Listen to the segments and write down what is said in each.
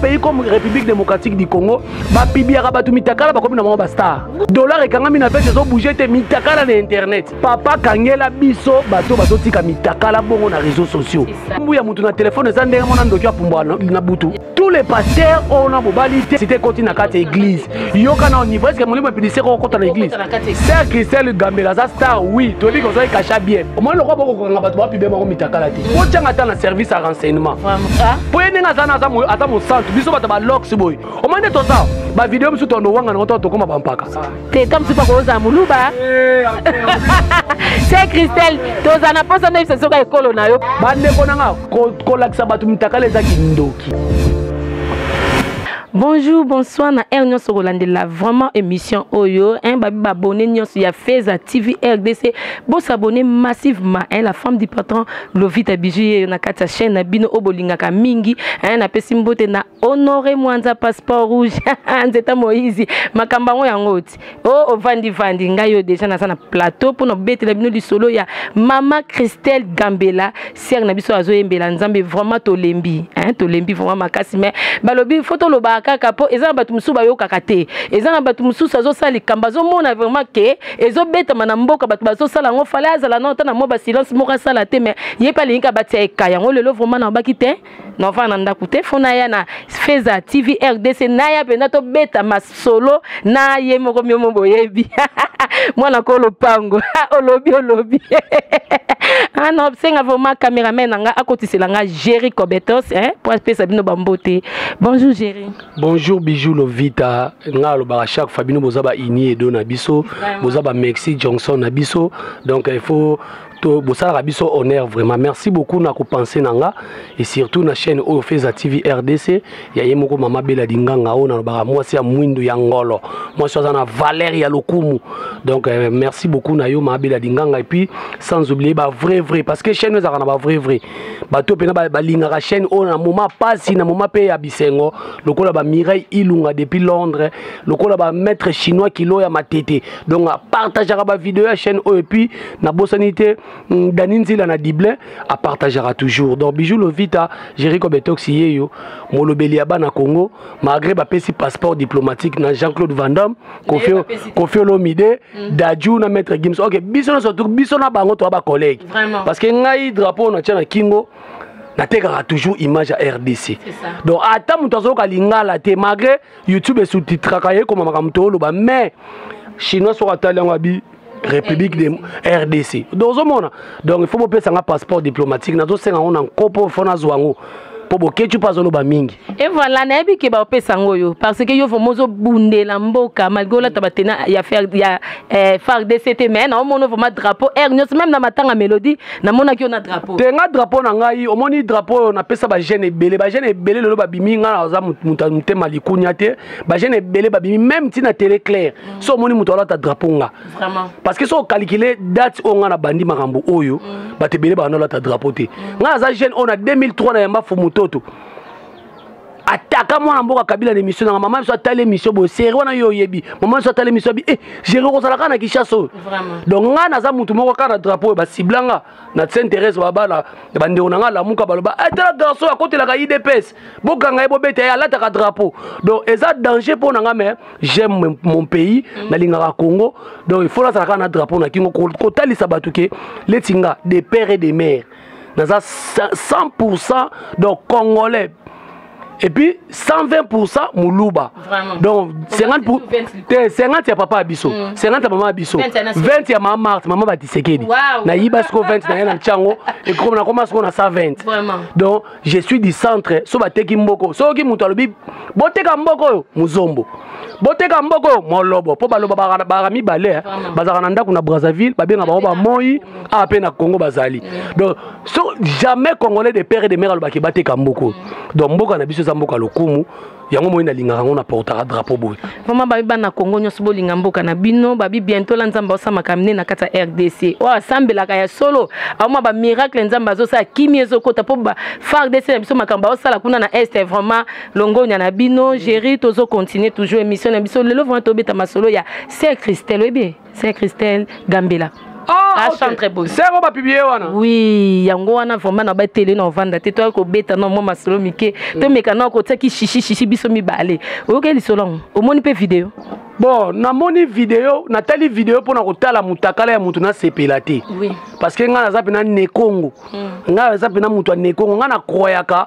pays comme république démocratique du congo bapibiaka bato mitakala bakomi na bango bastar dollar ekangami na vete ezobouge te mitakala na internet papa kangela biso bato bazotika mitakala bongo na réseau sociaux mbu ya moto na telefone eza ndenge mwana ndoki apumbwa na butu tous les pasteurs oyo na mobali te site ekoti na kati ya église yoka na niveau eske molimo epidise ko okota na église sœur christelle gambela aza star oui toyebi ke ozali kasha bien omoni lokola bokokokanga bato bapi be bango mitakala te botyanga ata na service ya renseignement mpo ye ndenge aza na aza mosantu biso bato balox boye omoni nde toza bavideo mosusu tondowanga nango to tokoma bampaka te comme tu pako oza muluba se christelle toza na posa noyebisa soka ekolo na yo bandeko na nga kolakisa bato mitakala eza kindoki bonjour bonsoir na aire nyonso kolandela vraiment émission oyo hein, babi babone nyonso ya feza tv rdc bosabone massivement hein, la femme du patron lovita biju yeyo na kati ya chaîne na bino oyo bolingaka mingi eh, napesi mbote na honore mwanza passeport rouge nzeta moïse makambo yango yango oti o oh, ovandivandi ngai oyo deja naza na plateau mpo na kobetela bino lisolo ya mama christelle gambela sere na biso azoyembela nzambe vraiment tolembi eh, tolembi vraiment makasi mais balobi fo tolobaka kaka mpo eza na bato mosusu bayokaka te eza na bato mosusu azosala likambo azomona vraiment ke ezobetama na mboka bato bazosala yango fale azala nao ta na mwa basilence moko asala te me ye mpe alingi abatia eka yango lelo vraimen nabaki te nava na ndako te fo naya na feza tv rdc naya mpenza tobeta masolo na ye moko miomo boyebi mwana ko lopango olobi olobi ana ah senga vraimen cameraman na nga akotisela nga géri cobetos eh, mpo apesa bino bambote bonjour géri bonjour bijou lovita nga alobaka chaque fois bino boza ba ini edo na biso boza ba mexi johnson na biso donc il faut bosalaka biso honneur vraiment merci beaucoup na kopense na nga et surtout na chaîne oyo feza tv rdc ya ye moko mama bela dinganga oyo nalobaka mwasi ya mwindu ya ngolo mwasi aza na valeur ya lokumu donc euh, merci beaucoup na yo mama bela dinganga et puis sans oublier ba vrai vrai parce que chaîne ezalaka na ba vrai vrai bato mpena balingaka chaîne oyo na moma mpasi na moma mpe ya bisengo lokola ba mireille ilunga depuis londres lokola ba maître chinois kilo ya matete donc apartageaka bavideo ya chaîne oyo epuis nabosani te mm, dani nzila na dible apartageaka toujours donc bijou lovita jerico betoxi yeyo molobeli ya bana congo malgré bapesi passeport diplomatique na jean claude vandam kofi kofi olomide mm. daju na maître gims ok biso nyonso tu biso na bango toya bacollègue parce que ngai drapeau na tya na kingo natekaka toujours image ya rdc donc ata moto azoyoka lingala te malgré youtube esutitraka ye ekomamaka moto oloba mais chinois soko atali yango abi république de rdc donc ozomona donc il faut bopesa nga passeport diplomatique nazosenga yango na nkopo fo nazwa yango mpo bokeci mpo azoloba mingi e voilà nayebi ke baopesa yango oyo parce que yo vraimen ozobundela mboka malgré olata batena ya eh, fardc te mais naomona vraimen drapeau aire nyonso meme na matanga mélodie namonaki yo na drapeau te nga drapeau na ngai omoni drapeau oyo napesa bajeune ebele bajeune ebele lelo babimi ngai naza motema likunia te bajeune ebele babimi meme ntina tele claire mm. so omoni moto alata drapeau nga parce que so ocalikile date oyo nga na bandi makambo oyo mm. bato ebele bana olata drapeau te mm. nga naza jeune oyo na 2003 na yamba fumutoto ataka mwana mboka kabila na émission nanga mama biso atali émission boye seri wana yo oyebi mama biso atali émission abi e eh, jere okozala kaka na kinshasa oyo donc ngai naza motu moko kaka na drapeau oyo basibla nga na saint thérèse babala bandeko na ngai alamuka baloba etala eh, garçon akotelaka idps bokanga ye bobeta ye alataka drapeau donc eza danger mpo na nga mais j'aime mon pays mm. nalingaka congo donc il faut nazala kaka na drapeau na kingo kotalisa bato ke leti nga de père et de mère naza 100 pourcent donc congolais et puis 120% muluba Vraiment. donc 50 pour... 50 ya papa biso mm. 50 ya mama biso 20 ya mama Marthe mama batisekedi wow. nayiba siko 20 na ye na ntiango ekoma nakoma siko na 120 Vraiment. donc je suis du centre so bateki mboko soki moto alobi boteka mboko oyo muzombo boteka mboko oyo molobo mpo baloba baka mibale eh. bazalaka na ndako na brazzaville babenga bango bamoi awa ah, mpe na congo bazali donc so jamais congolais de père et de mère alobaki bateka mboko donc mboka na biso eza mboka lokumu yango moi nalingaka yango na portaka drapeau boye vraimen babi bana congo nyonso bolinga mboka na bino babi bientôt la nzambe aosamaka mine na kati ya rdc oyo oh, asambelaka ya solo aoma bamiracle nzambe azosala kimi ezokota mpo fardc na biso makambo baosala kuna na est vraiment longonya na bino géri tozocontinue toujours émission na biso lelo vraimen tobeta masolo ya saint christel oyebi c'est christelle gambela Ah, chantre boye sero bapiblie wana wi yango wana vraimen na batele na ovanda te toyaki kobeta na mwa masolo mike mm. tomeka na kotiaki shishi shishi biso mibale oyoki lisolo yango omoni mpe video bon namoni video natali video mpo na kotala motakala ya moto nasepela te parce que ngai naza mpena nekongo mm. ngai naza mpena moto ya nekongo ngai nakroyaka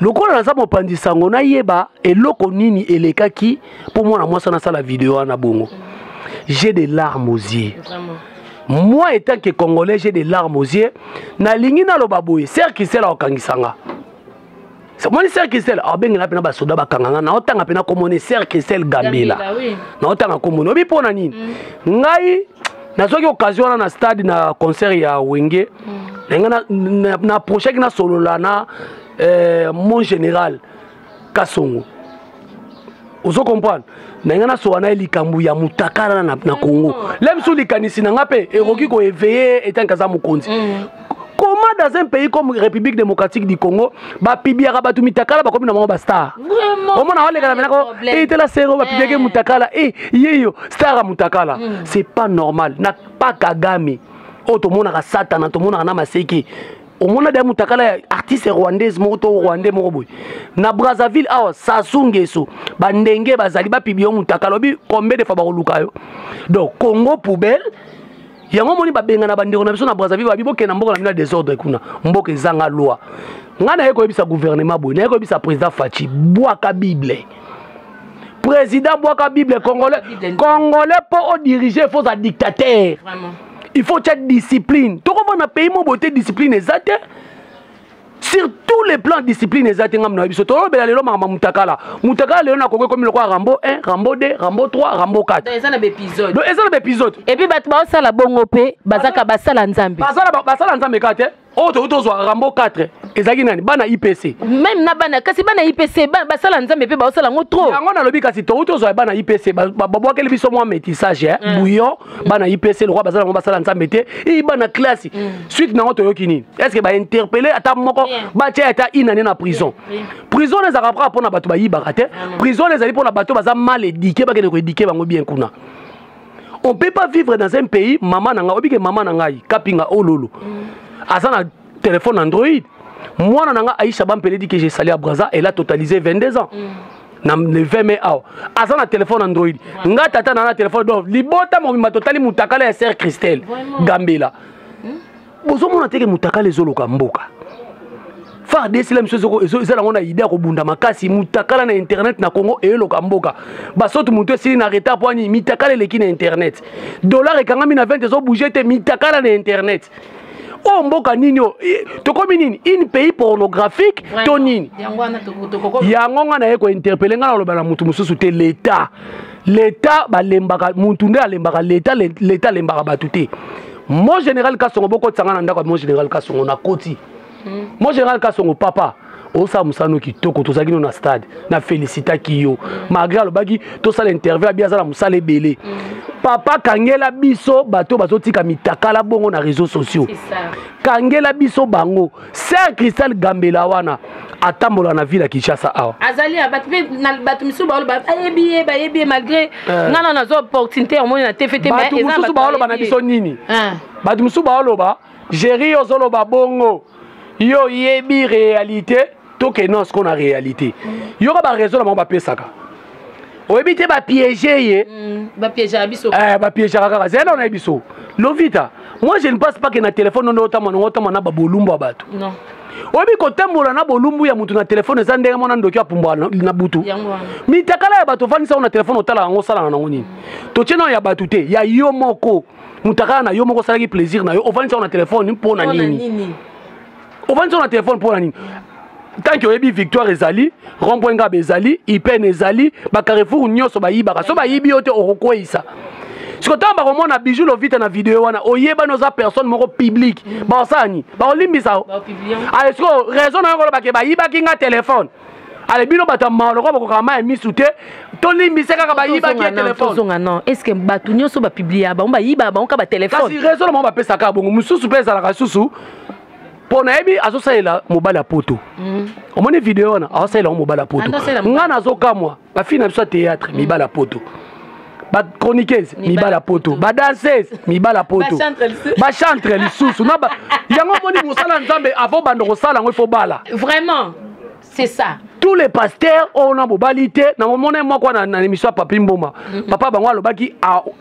lokola naza mopanzi sango nayeba eloko nini elekaki mpo mwana mwasi wana asala video wana bongo j'ai des larmes aux yeux moi étant que congolais j'ai des larmes aux yeux nalingi naloba boye ser kisel akokangisa nga omoni ser kisel abengela mpena basoda bakanga nga naotanga mpena komone ser kisel gambela naotanga komone obi mpo na nini mm. ngai nazwaki occasion wana na stade na concert ya wenge na ngai na approchaki nasolola na eh, mon général kasongo ozo comprendre na ngai nasola na ye likambo ya mutakala na, na congo le biso likanisi na ngai mpe ekoki koeveye etanke aza mokonzi mm. comment dans un pays comme république démocratique du congo bapibiaka bato mitakala bakomi na bango bastar omona walekana menako etela sero bapibiaki eh. mutakala e eh, yeyo star ya mutakala mm. c'est pas normal na pas kagame oyo tomonaka satana tomonaka na maseke omona deya mutakala ya artiste rwandaise moko to rwandais moko boye na brazzaville awa sasu ngeso bandenge bazali bapiblie yo mutakala obi combien de fois bakoluka yo donc congo poubelle yango omoni babengana bandeko na biso na brazzaville babi bokenda mboka na bino ya desordre kuna mboka ezanga loi ngai naye koyebisa gouvernement boye naye koyebisa président faci bwaka bible président bwaka bible congolais congolais mpo odirige il faut oza dictateur il faut tya discipline tokomona na pays mobo te discipline eza te sur tous les plans discipline eza te ngambo na biso tolobela lelo makambo mutakala mutakala lelo nakoki ekomi lokola rambo 1 rambo 2 rambo 3 rambo 4 eza na baepisode donc eza na baepisode epuis bato baosala bongo mpe bazaka basala nzambe basala nzambe ka te oyo tokoki tozwa rambo 4 ezalaki nani bana ipc meme na bana kasi bana ipc basala nzambe mpe baosala yango trop yango nalobi kasi tokoki tozwa bana ipc babwakeli biso mwa métissage eh? mm. bouillon bana ipc lokwa bazala yango basala nzambe te i bana classe mm. suite na yango toyoki nini est ce que bainterpele ata moko batya ata inane na prison prison na ezalaka kaka mpo na bato bayibaka te prison na ezali mpo na bato baza mal édike bakende koedike bango bien kuna on peut pas vivre dans un pays mama na ngai obike mama na ngai kapinga ololo oh aza na téléphone android mwana na ngai aisha bampele di que j'ai sali à braza elle a totalisé 22 ans na le 20 mai awa aza na telefone android nga tata na na telefone donc libota mobimba totali motakala ya sere christelle gambela bozomona teke mutakala ezoloka mboka fardc la miso eza nango na idea kobunda makasi mutakala na internet na congo eyeloka mboka basoto moto esili na retard mpo ani mitakala eleki na internet dollar ekangami na 20 ezobouge te mitakala na internet oyo oh, mboka nini oyo eh, tokomi nini une pays pornographique to nini yango nga naye kointerpele nga naloba na motu mosusu te leta leta balembaka motu nde alembaka leta leta alembaka bato te Mon général Kasongo boko tsanga na ndako mon général Kasongo na koti. Hmm. Mon général Kasongo papa osala mosala no kitoko tozalaki no na stade na félicitaki yo hmm. malgré alobaki tosala interview abi aza na mosala ebele hmm. papa kangela biso bato bazotika mitakala bongo na réseaux sociaux kangela biso bango Sœur Cristal Gambela wana atambola na ville ya Kinshasa awa. Azali ya bato mpe na bato misusu baolo bayebi ye bayebi ye malgré eh. nga na nazo opportunité omoni na te fete mais eza bato baoloba na biso nini? Eh. Bato misusu baoloba Jerry ozoloba bongo yo yebi réalité to ke non siko na réalité. Yoka ba raison na bango bapesaka. oyebi te bapiége ye mm, bapiégeaka biso eh, bapiégeaka kaka zela nao na ye biso lovita moi je ne passe pas ke na telefone onde otambwa nango otambwa na babolumbu ya bato oyebi kotambola na bolumbu ya moto na telefone eza ndenge mwana ndoki apumbwa na butu mitakala ya bato ofandisa yango na telefone otala yango osalaka nango nini totye nao ya bato te ya yo moko motakala na yo moko osalaki plaisir na yo ofandisa yango na telefone mpo na nini ofandisa na telefone mpo na nini tanke oyebi victoire ezali rond-point ngaba ezali ipene ezali bacarrefour nyonso bayibaka so bayibi yo te okokweisa siko ntango bakomona bijou lovita na video wana oyebani oza personne moko publique bakosala nini bakolimbisa o aye siko raison na yo kolobake bayibaki nga telefone ale bino bato ya mawa lokola bakokaka mai ya misu te tolimbisa kaka bayibaki ya telefoneozonga non est ce que bato nyonso bapiblia bango bayiba bango ka batelefone kasi rezo na bango bapesaka bongo mosusu mpe ezalaka lisusu mpo nayebi azosalela mobali ya poto mm. omoni video wana azosalela yango mobali ya poto ngai nazokamwa bafille na biso ya théâtre mibala ya poto bachroniqueuse mibala poto badanseuse mibala poto bachantre lisusu na yango omoni mosala ya nzambe avant banda kosala yango ifo bala vraiment c'est ça tous les pasteurs oyo na bobali te na omona ye moko na émission ya papi mboma mm-hmm. papa bango alobaki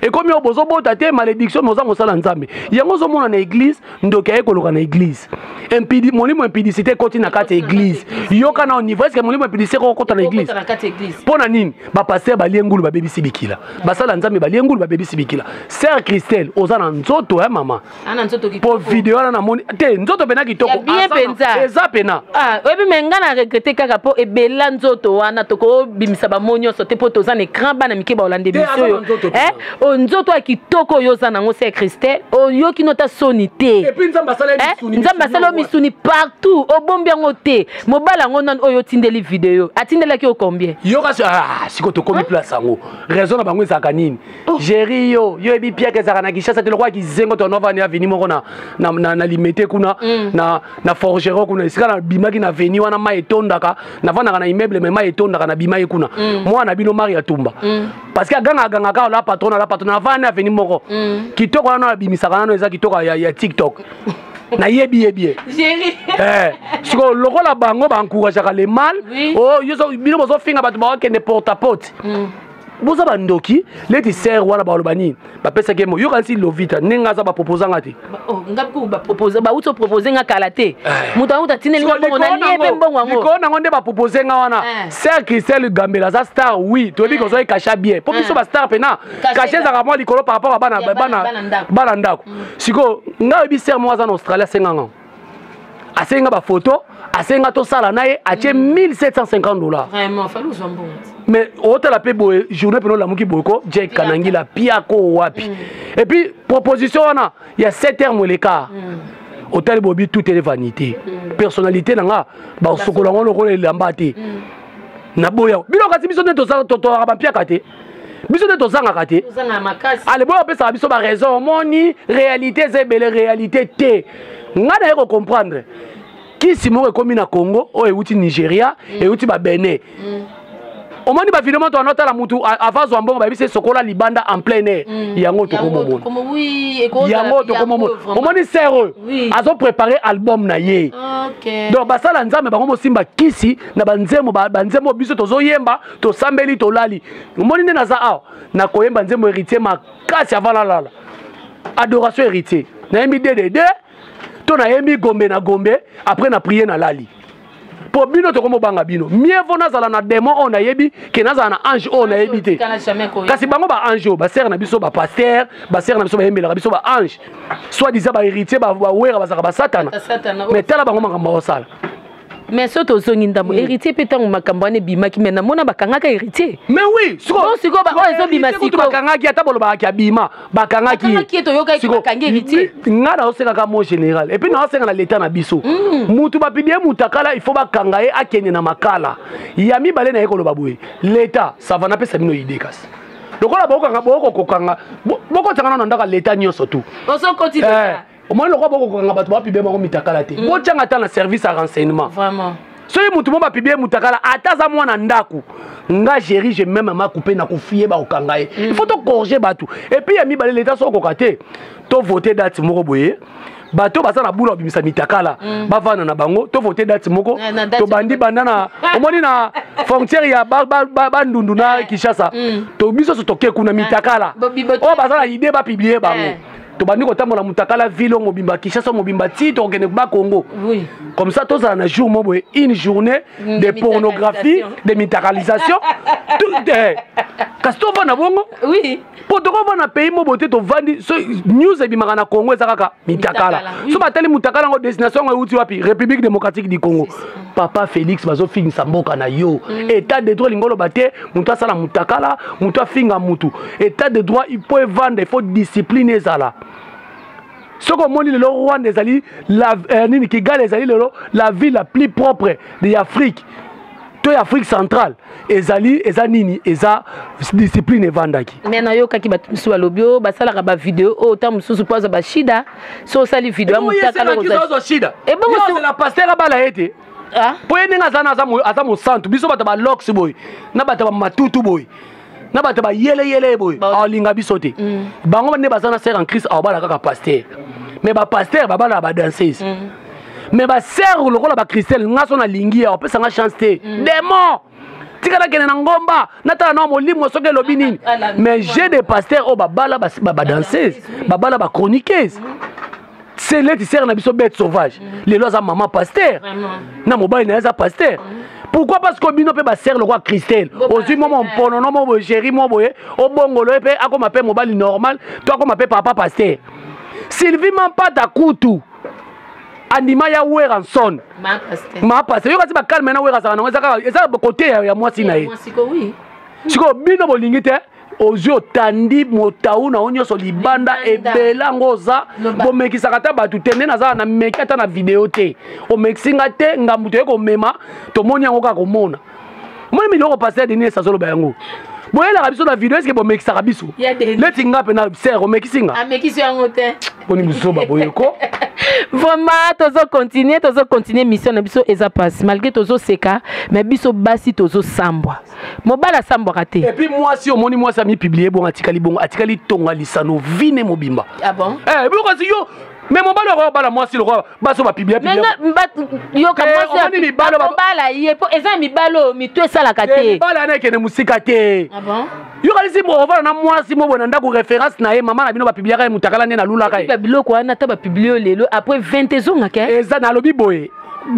ekomi oyo bozobota te malediction moza mosala nzambe yango ozomona na eglise ndoki aye koloka na eglise impidi molimo impidicité ekoti na kati ya eglise yoka na niveau eske molimo impidicité kokota na eglise mpo na nini bapaster balie ngulu babebisi bikila basala nzambe balie ngulu babebisi bikila sœur christelle oza na nzoto ya mama ana nzoto kitoko po video wana namoni te nzoto pena kitoko bien penza eza pena ah oyebi me ngai na regrete kaka po ebela nzoto wana tokobimisa bamo nyonso te po toza na écran bana mike baolande biso oyo eh oyo nzoto ya kitoko oyo oza nango se christelle oyoki nota soni te eh? nzambe asali yo misuni partout obombi yango te mobali yango nani oyo otindeli video atindelaki yo combien yoka ah, siko tokomi place yango raison na bango ezalaka nini oh. jeri yo yo yebi piaka ezalaka na kinshasa te lokola kizengo to novani aveni moko na, na, na, na limete kuna mm. na, na forgero kuna esika nabimaki na veni wana mai etondaka navandaka na immeuble me mai etondaka nabimaki kuna mm. mwana na bino mari ya tumba mm. parce que aganga aganga kaka la patron na la patron navandi na veni moko mm. kitoko wana nabimisaka nano eza kitoko ya, ya tiktok nayebi yebi ye eh, sikoyo lokola bango baencourageaka le mal oh, bino bozofinga bato baokende porte a porte mm. boza bandoki leti ser wana baloba nini bapesaki mo yokanisi lovita ndenge aza bapropoza nga te oh, bauti opropose nga kala te eh. moto yango tatinelilikolo nango nde bapropose nga wana eh. ser christel gambela aza star oui toyebi eh. kozwaki kasha bien mpo biso bastar mpena kasha ezalaka mwa likolo par rapport ya bana ndako mm. sikoyo ngai oyebi ser moko aza na australie asenganga asengi nga bafoto asengi nga tosala na ye atie 1750 dollars mais otala mpe boye journée mpena olamuki boye ko jek kanangila piako wapi mm. et puis proposition wana ya 7 heure moleka mm. otali bobi tout ele vanité mm. personnalité na nga basokola yango lokola elamba te naboya bino kasi biso nde tozalaka bampiaka te biso nde tozangaka te aleboyo apesaka biso baraison omoni réalité eza ebele réalité te ngai naye kocomprendre kisi moko ekomi na congo oyo euti nigeria mm. euti babene mm. omoni bavide moto wana otala motu ava zwa mbongo bayebisi esokola libanda en plein air mm. yango tokomomona yango tokomomona omoni ser oyo azoprépare album na ye donc basala nzambe bango mosimba kisi na banzembo banzembo biso tozoyemba tosambeli tolali omoni nde naza awa nakoyemba nzembo héritier makasi avant nalala adoration héritier nayembi dedede to nayembi gombe na gombe après na priye nalali mpo bino tokomobanga bino mieux vaut nazala na démon oyo nayebi ke nazala na ange oyo nayebi te kasi bango ba ange oyo basere na biso bapaster basere na biso bayembelaka biso ba ange soit disa bahéritier bawera bazalaka basatana mais tala bango makambo bakosala mais soki tozongi ndambo mm. héritier mpe ntango makambo wana ebimaki mais namona bakangaka héritier mais oui sikoyo sikoyo baoyo ezobima sikobakangaki ata bolobakaki abima bakangaki ngai naosekaka mo général epuis mm. naosenga na leta na biso motu mm. bapibie motakala ifo bakanga ye akende na makala ya mibale na ye koloba boye leta sava napesa bino ide kasi lokola bokokanga bokokokanga bokotanga nano ndaka leta nyonso tu omoni lokola bokokokanga bato bapibie bango mitakala te mm. botyanga ata na service ya renseignement soki motu mo bapibie motakala ata aza mwana ndako nga géri je meme makupe nakofiye bakokanga ye mm. ifo tokorge bato epuis ya mibale leta so okoka te tovote date moko boye bato baza na bula babimisa mitakala mm. bavanda na bango tovote date moko eh, tobandi banda na omoni na frontière ya bandundu na eh. kinshasa biso so toke kuna eh. mitakala oyo baza na idée bapiblie bango tobandi kotambola mutakala ville oyo mobimba kinshasa mobimba ti tokokende ba congo oui. comme ça tozala na jour mo boye une journée mm, de pornographie de mitakalisation eh, kasi tovanda bongo oui. mpo tokovanda pays mo boye te tovandi so, news ebimaka na congo eza kaka mitakala so batali mutakala yango destination yango euti wapi république démocratique du congo papa félix bazofingisa mboka na yo mm. état de droit elingi oloba te moto asala motakala moto afinga motu état de droit mpo evanda ifo discipline ezala soki omoni lelo rwanda ezali la, eh, nini kigali ezali lelo la ville la plus propre de afrique to ya afrique centrale ezali eza nini eza discipline evandaki me nayokaki bato mosusu balobi o oh, basalaka bavideo oyo oh, ntango mosusu mpo aza bashida so osali video ya motaka lokoza shida ebongo eh, la pasteur abala ete ah? po ye ndenge aza na aza mosantu biso bato ba lox boye na bato ba matutu boye na bato ba yeleyele boye aolinga biso te mm. bango nde baza na sere en christ aobala kaka pasteur mais bapasteur babala badanseuse mm. mais basere lokola bachristele nga so nalingi ya opesa nga chance te mm. demo tika nakende na ngomba natala na molimo soki elobi nini mais j'ai des pasteurs oyo babala badanseuse babala bachroniqueuse se leti sere na biso bete sauvage lelo aza mama paster na mobali na ye aza paster pourquoi parce que bino mpe basere lokola christele ozwi mwa momponono mo boye géri mo boye obongolo ye mpe akoma mpe mobali normal to akoma mpe papa paster sylvie mampata kutu andima ya weranson mapase yoka ti bakalme na wera azalaka nango eza kaka eza kote ya mwasi na ye sikoyo bino bolingi te ozwi otandi motau na yo nyonso libanda ebele yango oza bomekisaka ata bato te nde nazala na meki ata na video te omekisi nga te ngambo toye komema tomoni yango kaka komona moni miloko pasteur denis esi azoloba yango boyelaka biso na video eske bomekisaka biso neti nga mpe na ser omekisi nga amekisi yango te boni buzoba boyeko vraiment tozo continue tozo continue mission na biso eza pasi malgré tozoseka mais biso basi tozosambwa mobali asambwaka te epuis mwasi omoni mwasi amipiblie bongo atikali bongo atikali tonga lisano vine mobimba ah bon? eh, biloko yo me mobali okoya kobala mwasi lokola basi oyo bapibiapibiaomoni mibali obala ye mpo eza mibali oyo mitu esalaka te mibali ana ekende mosika te ah yokanisi ovanda na mwasi moboye na ndako référence na ye mama na bino bapibliaka ye motakala nde nalulaka ye biloko wana ata bapiblie yo lelo après 20 ezongaka eza nalobi boye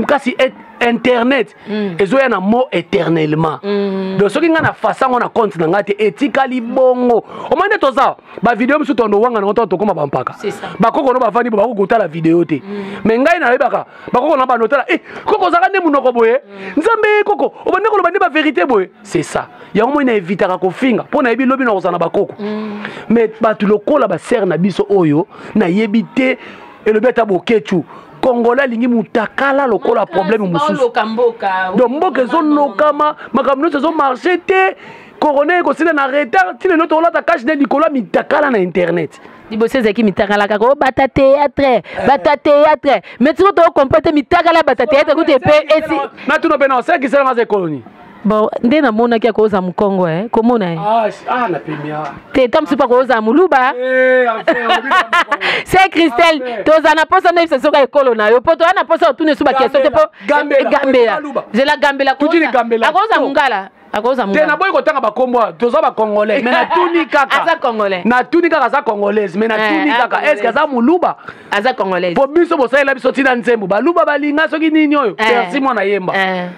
kasi e, internet mm. ezoya na mot éternellement mm. donc soki ngai na fasa yango na compte na ngai te etikali bongo omoi nde toza ba video mosusu tondo wanga na ntango tokoma bampaka bakoko no bavandi bo bakoki kotala video te mm. me ngai nayebaka bakoko na bando otala e eh, koko ozalaka nde monoko boye mm. nzambe eh, koko obandi koloba nde baverité boye c'est ça yango moi naevitaka kofinga mpo nayebi lobi nakozala na bakoko mm. me bato lokola basere na biso oyo nayebi te elobi ata bokechu congolais alingi mutakala lokola problème mosusu donc mboka ezonokama makambo nyonso ezomarche te corona ekosila na retard ti lelo tokolata cash nde likolo ya mitakala na internet liboso ezalaki mitakala kaka obata oh, théâtre eh. bata théâtre mais tiko tokompre te mitakala bata théâtre kutu epe esi natuna mpe na osekiselanga za ekoloni bon nde namonaki ya koza mokongo e komona e te ta mosusu mpa koza moluba eh, se christelle toza na mposa nde bisa soka ekolo na yo mpo toza na mposa otuna esu bakestio te mpo gambela zela gambela akoza mongala te naboyi kotanga bakombo awa toza bacongolais me natuni kaka natuni kaka aza congolaise me natuni eh, kaka eske aza moluba po biso bosalela biso ntina nzembo baluba balinga soki nini oyo eh. persi mwana yemba eh.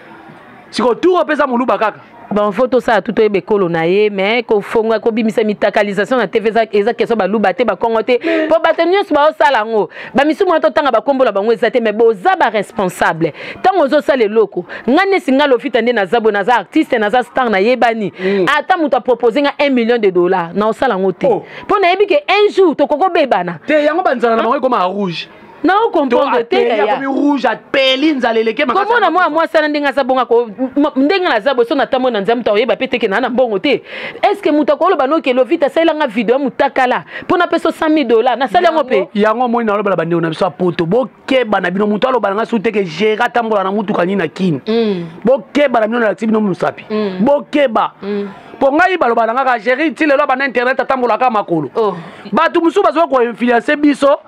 sikoyo tour opesa moluba kaka bon fo tosala tu toyeba ekolo na ye mais kofonga kobimisa mitakalisation na tv eza question baluba te bakongo te mpo bato nyonso baosala yango bamisumu wana totanga bakombo na bango eza te mais boza baresponsable ntango ozosala eloko ngai nesi ngai lofita nde naza boye naza artiste naza star nayebani mm. ata moto apropose nga 1 million de dollar na osala yango te mpo oh. nayebi ke un jour tokoki obebana te yango banzala na bango ekoma rouge nao comprendre te yaya rouge apeli nzala eleke makasi komona mwana mwasi wana ndenge aza bonga ko ndenge naza boso na tambo na nzambe to oyeba pe te ke na na mbongo te eske moto akoloba noke lovita asalela nga video ya motakala mpo napesa 100 dola nasali yango mpe yango omoni nalobela bandeko na biso ya poto bokeba na bino moto aloba na ngai soki teke gere atambola na motuka nini na kini mm. bokeba na bino nalakisi bino mosapi mm. bokeba mm. mpo ngai baloba na ngaka gere ti lelo abanda internet atambolaka makolo oh. bato mosusu bazoki koinfluence biso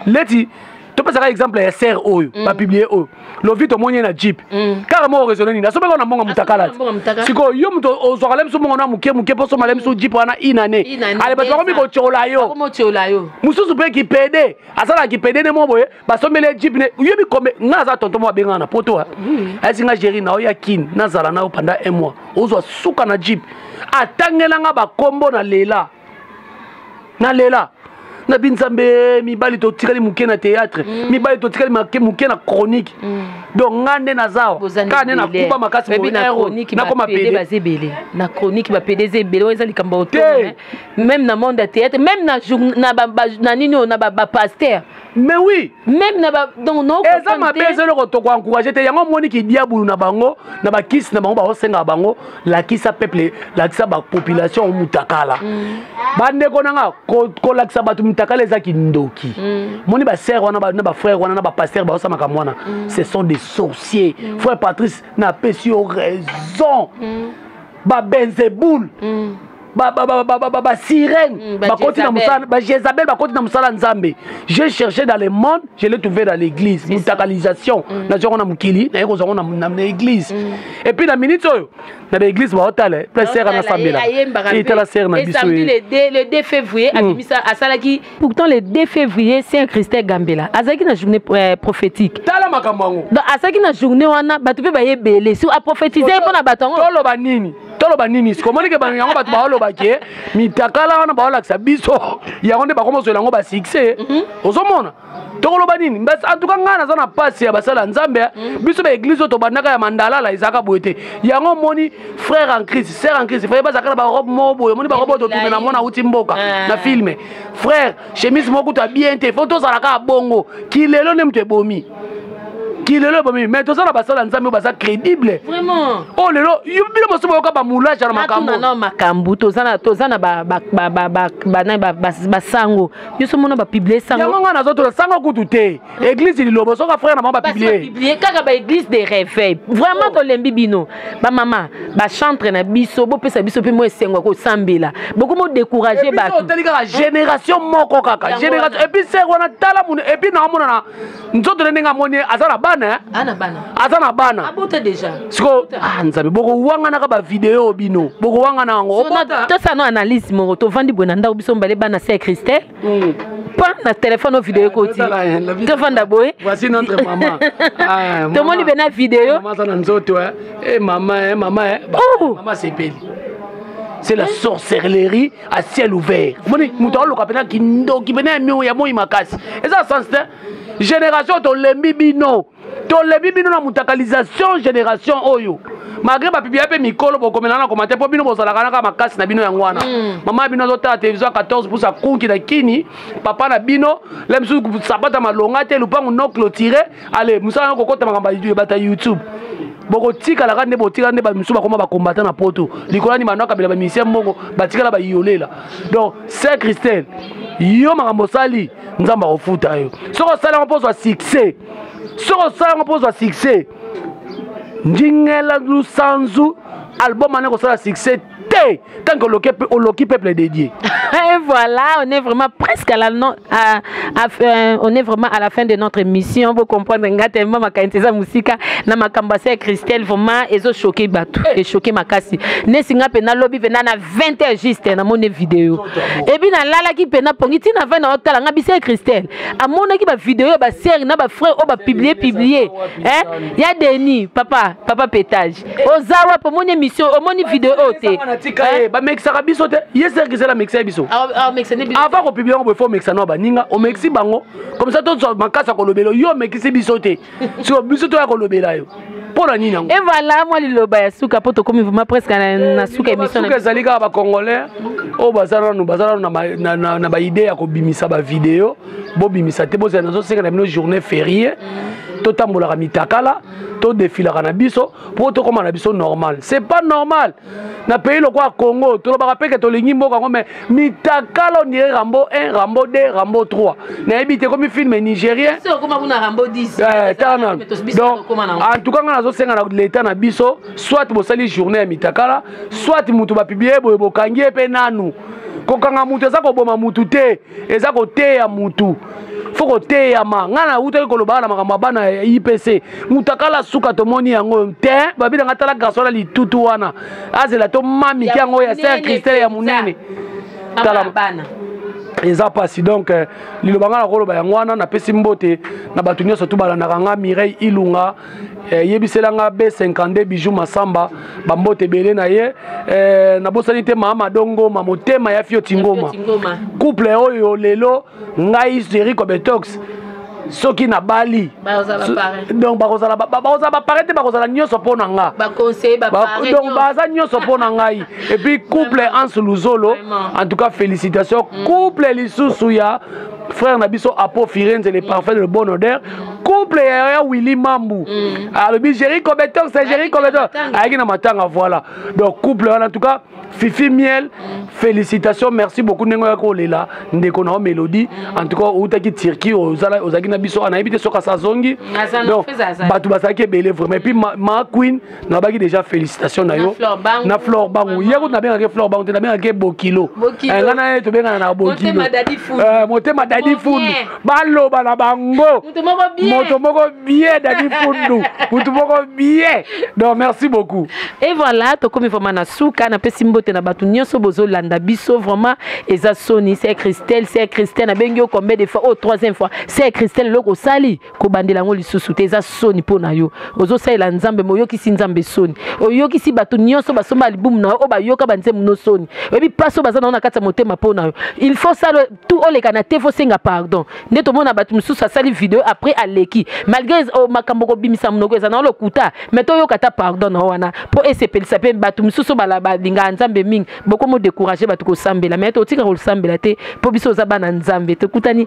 leti topesaka exemple ya serre oyo mm. bapiblie oyo lovi tomoni ye na jeep mm. kaka moko raisonne nini asombeka na mbongo mutakala sikoyo yo moto ozwaka le biso mbongo na moke moke mpo osomba le biso jeep wana inane ale bato bakomi kotyola yo mosusu mpe kipede asalaka kipede ne mo boye basombeli ye jeep ne oyebi kombe ngai aza tonto mo abengana na poto ayesi ngai géri na yo ya kin nazala na yo pendant un mois ozwa suka na jeep atangelanga bakombo na lela nalela na bi nzambe mibali totikali moke na théâtre mm. mibali totikali moke na chronique mm. donc nga nde nazawa kaka nde nakuba makasi nakoma pede na chronique bapede eza ebele oyo eza likambo ya oto meme na monde ya théâtre meme na nini oyo na bapaster mais oui même na ba donc no eza mabe eza eloko toko encourager te yango omoni ki diabulu na bango na ba kisi na bango baosenga bango lakisa peuple lakisa ba population mutakala mm. bandeko na nga kolakisa bato mutakala eza kindoki mm. moni ba sœur wana na ba frère wana na ba pasteur baosa makambo wana mm. ce sont des sorciers mm. frère patrice napesi yo raison mm. babenzeboule mm. basirene mm, bakoti na mosala bajezabel bakoti na mosala nzambe je cherché dans le monde je l'ai trouvé dans l'église mutakalisation mm. nazwa yango na mokili naye kozwa yango na église mm. et puis na minute oyo na baeglise baotala mpe sere anasambela etala sere na biso le 2 février abimisa asalaki pourtant le 2 février saint christin gambela azalaki na journée euh, prophétique tala makambo yango asalaki na journée wana bato mpe baye ebele so aprophétise mpo na bato yango toloba nini toloba nini siko omonike bano yango bato baoloba ke mitakala wana baolakisa biso yango nde bakoma ozwela yango basuccès mhm. ozomona tokoloba nini antuka ngai naza na mpasi ya basala nzambe eh. mhm. biso baeglise oyo tobandaka ya mandalala ezalaka boye te yango omoni frère en crise sœur en crise faye bazalaka na barobe moko boye omoni barobe oyo totume na mwana auti mboka eh. na filme frère chemise moko kutu ya bien te fo tozala kaka bongo kilelo nde moto ebomi kilelo ebomi mais toza na basala ya nzambe oyo baza crédible vraiment oyo oh, lelo bino mosusu boyoka bamoulage na makambo makambo toza na toza na basango biso mona bapiblie sango yango ngai nazotola sango kutu te église lilobo soki afrère na bango bapiblie kaka baéglise de réveil vraiment oh. tolembi bino bamama bachantre na biso bopesa biso mpe mwa esengo ya kosambela bokomi odécourage batotali kaka génération moko kaka génération epuis ser wana tala munu epuis naamonana nzoto ne ndenge amoni aza na bana eh? ah, aza na bana siko ah, nzambe bokowanganaka bavideo bino bokowangana yango tosano analyse moko tovandi boye na ndako biso mibale bana se ya christelle Mm. pa na telefone o video ekoti tofanda boye tomoni mpe na video na nzoto mama eh, mama eh, eh, oh! sepeli c'est la sorcellerie à ciel ouvert omoni moto aoloka mpena kindoki mpena ya moi makasi eza sens te génération tolembi bino tolebi bino na mutakalisation génération oyo malgré bapiblia mpe mikolo bokomela na komate mpo bino bozalaka naka makasi na bino yango wana mm. mama ya bino azotala télévision ya 14 pusa kunki na kini papa na bino la misusu sapata malonga te lupangu no clotire ale mosala na kokota makambo ebata youtube bokotikala kaka nde botikala nde bamisusu bakoma bakombata na poto likola ni bando akabela bamisien mbongo batikala bayolela donc saint christel yo makambo osali nzambe akofuta yo soki osali yango mpo ozwa succès soki osala yango mpo ozwa succès ndingela lusanzu album wana ekosala succès te tant que oloki, oloki peuple dédié et voilà on est vraiment presque à la non, à, à, euh, on est vraiment à la fin de notre émission vous comprendre nga tellement makanisi eza mosika na makambo ya christelle vraiment ezochoke bato echoke eh. makasi nesi nga mpe nalobi mpe na 20 heures juste namoni video epuis nalalaki mpe napongi ntina 20 na otala nga bise christelle amonaki bavideo ya basere na bafrere oyo bapiblie piblie ya deni papa papa petage oza wapi omoni émission omoni video oyo te bamekisaka biso te ye sere christelle amekisa ye biso avant kopiblie yango boye fo omekisa na baninga omekisi bango komisa tozwa makasi ya kolobela yo omekisi biso te siko biso toya kolobela yo mpo na nini yango evala mwa liloba ya suka mpo tokomi vraimen presque na suka emissionsuka ezali kaka bacongolais oyo baza nanu baza nanu na baide ya kobimisa bavideo bobimisa te bozala nazosenga na bino journée ferie totambolaka mitakala todefilaka na biso mpo tokóma na biso normal c'est pas normal na pays lokola congo tolobaka mpe ke tolingi mboka yango mai mitakala ondire rambo 1 rambo 2 rambo 3 nayebi te ekomi filme nigérien eh, donc en tout cas ngai nazosenga na leta na biso soit bosali journée ya mitakala soit moto bapiblie boye bokangi ye mpe nanu kokanga moto eza koboma moto te eza koteya mutu fo koteyama ngai nawutaki kolobaka na makambo ya bana ya ipc mutakala suka tomoni yango te babi na ngai tala garso na litutu wana azela tomamiki yango ya ser kristel ya monene tala bana eza mpasi donc euh, liloba ngai nakoloba yango wana napesi mbote na bato nyonso tu balandaka ngai mireille ilunga eh, yebisela nga b52 bijou masamba bambote ebele na ye eh, nabosani te mama madongoma motema ya fio tingoma couple oyo lelo ngai jeriko betox soki nabali donc bakozala bapare te bakozala nyonso mpo na nga donc baza nyonso mpo na ngai epuis couple anse luzolo en tout cas félicitation mm. couple lisusu ya frère na biso apo firenze le parfait de le bon odeur couple ya ya willy mambu mm. alobi géri cobetor c'est géri cobetor ayaki na matanga voilà donc couple wana en tout cas fifi miel mm. félicitations merci beaucoup ndenge oyaki olela ndeko na yo mélodie mm. en tout cas outaki turquie ozalaki na biso anayebi te soki asazongi donc bato bazalaki ebele vraiment epuis ma queen nalobaki déjà félicitation na yo na flore bangu ye kutu nabengaki flore bangu te nabengaki bokilo eh, nga na ye tobengana na bokilo motema eh, dadi fundu baloba na bango moto moko bie dadi fundu motu moko bie donc merci beaucoup et voilà tokomi vraiment na suka napesi mbote na bato nyonso bozolanda biso vraiment eza soni se christelle se christelle nabengi yo combien de fois oyo oh, troisième fois se christelle eloko osali kobandela yango lisusu te eza soni mpo na yo ozosalela nzambe me oyokisi nzambe soni oyokisi bato nyonso basomba alibumu na yo oyo bayoka banzembo no soni oyebi mpasi oyo baza na yo na kati ya motema mpo na yo il faut sala tu oleka na te fosenga pardon nde tomona bato mosusu asali video après aleki malgré oh, makambo kobimisa monoko eza na yo lokuta me toyoka ata pardon na yo wana mpo esepelisa mpe bato mosusu balingaka nzambe mingi bokomo décourage bato kosambela me totika kosambela te mpo biso oza bana nzambe tokutani